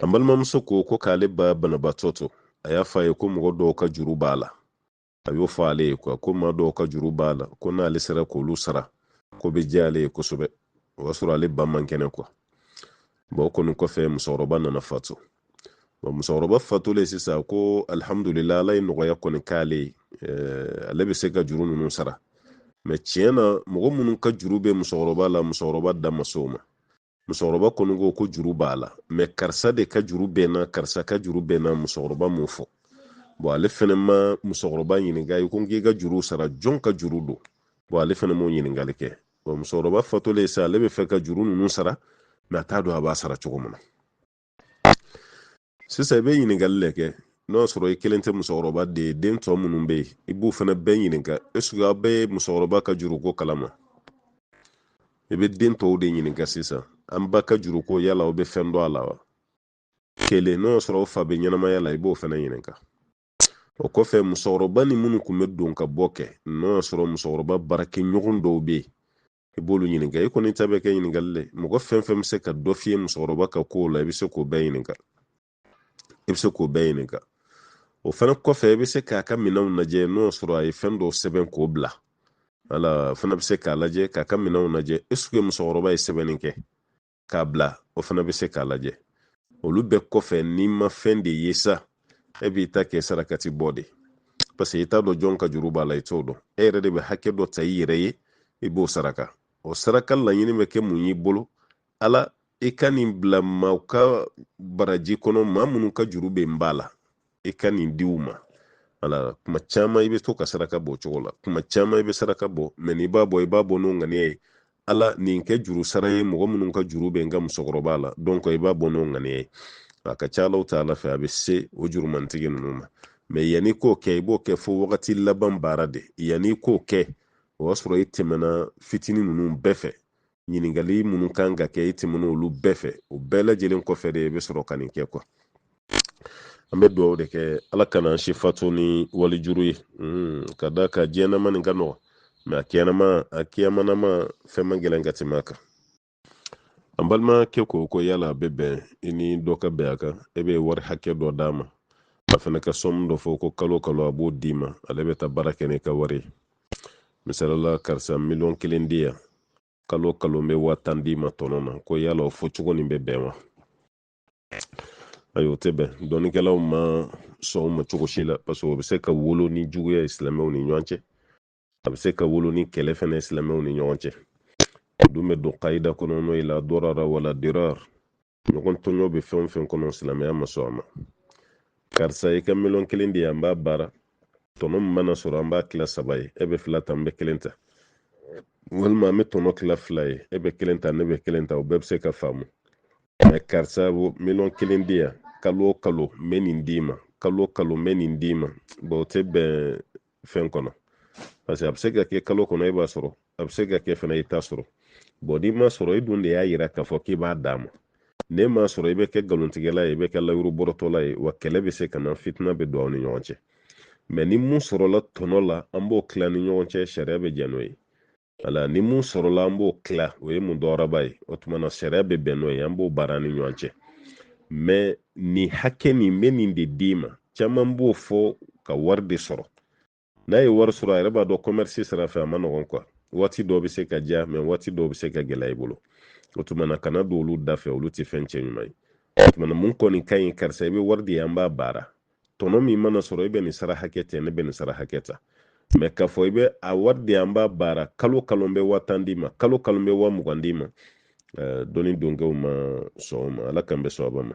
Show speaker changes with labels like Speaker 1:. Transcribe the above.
Speaker 1: an balimamuso ko ko k'ale ba banabaatɔ to a y'a fɔ a ye ko mɔgɔ dɔw ka juru b'a la a y'o fɔ ale ye kuwa ko maa dɔw ka juru b'a la ko n'ale sera k'olu sara k'o bɛ diya ale ye kosɛbɛ o y'a sɔrɔ ale ba man kɛnɛ kuwa bɔn o kɔni kɔfɛ musokɔrɔba nana fatu musokɔrɔba fatulen sisan ko alihamudulila ala ye nɔgɔya kɔni k'ale ye eh, ale bɛ se ka juru ninnu sara mɛ tiɲɛ na mɔgɔ minnu ka juru bɛ musokɔrɔba la musokɔrɔba da ma s'o ma musokɔrɔba kɔni ko ko juru b'a la mɛ karisa de ka juru bɛ n na karisa ka juru bɛ n na musokɔrɔba m'o fɔ bɔn ale fɛnɛ ma musokɔrɔba ɲininka i ko n k'i ka juru sara jɔn ka juru don bɔn ale fɛnɛ m'o ɲininkali kɛ bɔn musokɔrɔba fatulen sa ale bɛ fɛ ka juru ninnu sara mɛ a t'a dɔn a b'a sara cogo min na sisan i bɛ ɲininkali le kɛ n'o y'a sɔrɔ i kelen tɛ musokɔrɔba den ye den tɔ minnu bɛ yen i b'u fana bɛɛ ɲininka esike aw bɛ musokɔrɔba ka juruko kalama i bɛ den tɔw de ɲininka sisan an ba ka juruko yala aw bɛ fɛn dɔn a la wa kelen n'o y'a sɔrɔ fa bɛ ɲɛnamaya la i b'o fana ɲininka o kɔfɛ musokɔrɔba ni minnu tun bɛ don ka bɔ kɛ n'o y'a sɔrɔ musokɔrɔba baarakɛɲɔgɔn dɔw bɛ yen i b'olu ɲininka i kɔni ta bɛ kɛ ɲininkali le mɔgɔ fɛn fɛn bɛ se ka dɔ f'i ye musokɔrɔba ka kow la i bɛ se k'o bɛɛ ɲininka i bɛ se k'o bɛɛ ɲininka o fana kɔfɛ i bɛ se k'a ka minanw lajɛ n'o y'a sɔrɔ a ye fɛn dɔ sɛbɛn k'o bila wala fana bɛ se k'a lajɛ k'a ka minanw lajɛ esike musokɔrɔba ye sɛbɛnni kɛ k'a bila o fana bɛ se k'a lajɛ olu bɛɛ kɔfɛ n'i ma fɛn de ye sa e b'i ta kɛ sarakati bɔ de parce que i t'a dɔn jɔn ka juru b'a la i t'o dɔn e yɛrɛ de bɛ hakɛ dɔ ta i yɛrɛ ye i b'o saraka o saraka laɲini bɛ kɛ mun y'i bolo ala i ka nin bila maaw ka baraji kɔnɔ maa minnu ka juru bɛ n ba la i ka nin di u ma wala kuma caman i bɛ to ka saraka bɔ cogo la kuma caman i bɛ saraka bɔ mɛ n'i b'a bɔ i b'a bɔ n'o ŋaniya ye ala nin kɛ juru sara ye mɔgɔ minnu ka juru bɛ n ka musokɔrɔba la donc i b'a bɔ n'o ŋaniya ye a ka ca alahu taala fɛ a bɛ se o jurumantigi ninnu ma mɛ yanni k'o kɛ i b'o kɛ fo wagati laban baara de yanni k'o kɛ o y'a sɔrɔ i tɛmɛna fitinin ninnu bɛɛ fɛ ɲininkali minnu kan ka kɛ i tɛmɛn'olu bɛɛ fɛ o bɛɛ lajɛlen kɔfɛ de i bɛ sɔrɔ ka nin kɛ kuwa an bɛ dugawu de kɛ ala kana an si fatu ni wali juru ye hmm, ka d'a kan diɲɛnama nin ka nɔgɔ mɛ a kɛnɛma a kiyamanama fɛn man gɛlɛn ka tɛmɛ a kan an balimakɛ ko ko yala a bɛ bɛn i ni dɔ ka bɛn a kan e bɛ wari hakɛ dɔ d'a ma a fana ka sɔmu dɔ fɔ ko kalo kalo a b'o d'i ma ale bɛ taa baara kɛ n'i ka wari ye misali la karisa miliyɔn kelen di yan kalo kalo n bɛ waa tan d'i ma tɔnɔ na ko yala o fɔ cogo nin bɛ bɛn wa ayi o tɛ bɛn dɔnnikɛlaw ma sɔn o ma cogo si la paseke o bɛ se ka wolo ni juguya ye silamɛw ni ɲɔgɔn cɛ a bɛ se ka wolo ni kɛlɛ fana ye silamɛw ni ɲɔgɔn cɛ o dun bɛ don kayida kɔnɔ n'o ye la darara wala dirar ɲɔgɔn tɔɲɔ bɛ fɛn o fɛn kɔnɔ silamɛya ma sɔn a ma karisa i ka miliyɔn kelen di yan an b'a baara tɔnɔ min mana sɔrɔ an b'a kila saba ye e bɛ fila ta n bɛ kelen ta walima an bɛ tɔnɔ kila fila ye e bɛ kelen ta ne bɛ kelen ta o bɛɛ bɛ se ka faamu mɛ karisa miliyɔn kelen di yan kalo o kalo n bɛ nin d'i ma kalo o kalo n bɛ nin d'i ma bɔn o tɛ bɛn fɛn kɔnɔ parce que a bɛ se ka kɛ kalo kɔnɔ e b'a sɔrɔ a bɛ se ka kɛ fana i t'a sɔrɔ bɔn n'i m'a sɔrɔ e dun de y'a yira k'a fɔ k'i b'a d'a ma ne m'a sɔrɔ i bɛ kɛ nkalontigɛla ye i bɛ kɛ layuru bɔrɔtɔla ye wa kɛlɛ bɛ se ka na fitina bɛ don aw ni ɲɔgɔn cɛ mɛ ni mun sɔrɔla tɔnɔ la an b'o kila ni ɲɔgɔn cɛ sariya bɛ jɛn n'o ye wala ni mun sɔrɔla an b'o kila o ye mudaraba ye o tuma na sariya bɛ bɛn n'o ye an b'o baara ni ɲɔgɔn cɛ mɛ nin hakɛ nin n bɛ nin de d'i ma caman b'o fɔ ka wari de sɔrɔ n'a ye wari sɔrɔ a yɛrɛ b'a dɔn kɔmɛrisi sira fɛ a ma nɔgɔn kuwa waati dɔw bɛ se ka diya mɛ waati dɔw bɛ se ka gɛlɛya i bolo o tuma na kana don olu da fɛ olu tɛ fɛn cɛ ɲuman ye o tuma na mun kɔni ka ɲi karisa i bɛ wari di yan an b'a baara tɔnɔ min mana sɔrɔ e bɛ nin sara hakɛ ta ne bɛ nin sara hakɛ ta mɛ k'a fɔ i bɛ a wari di yan an b'a baara kalo kalo n bɛ waa tan d'i ma kalo kalo n bɛ waa mugan d'i ma dɔnni donkɛw ma sɔn o ma ala k'an bɛɛ sɔn a ma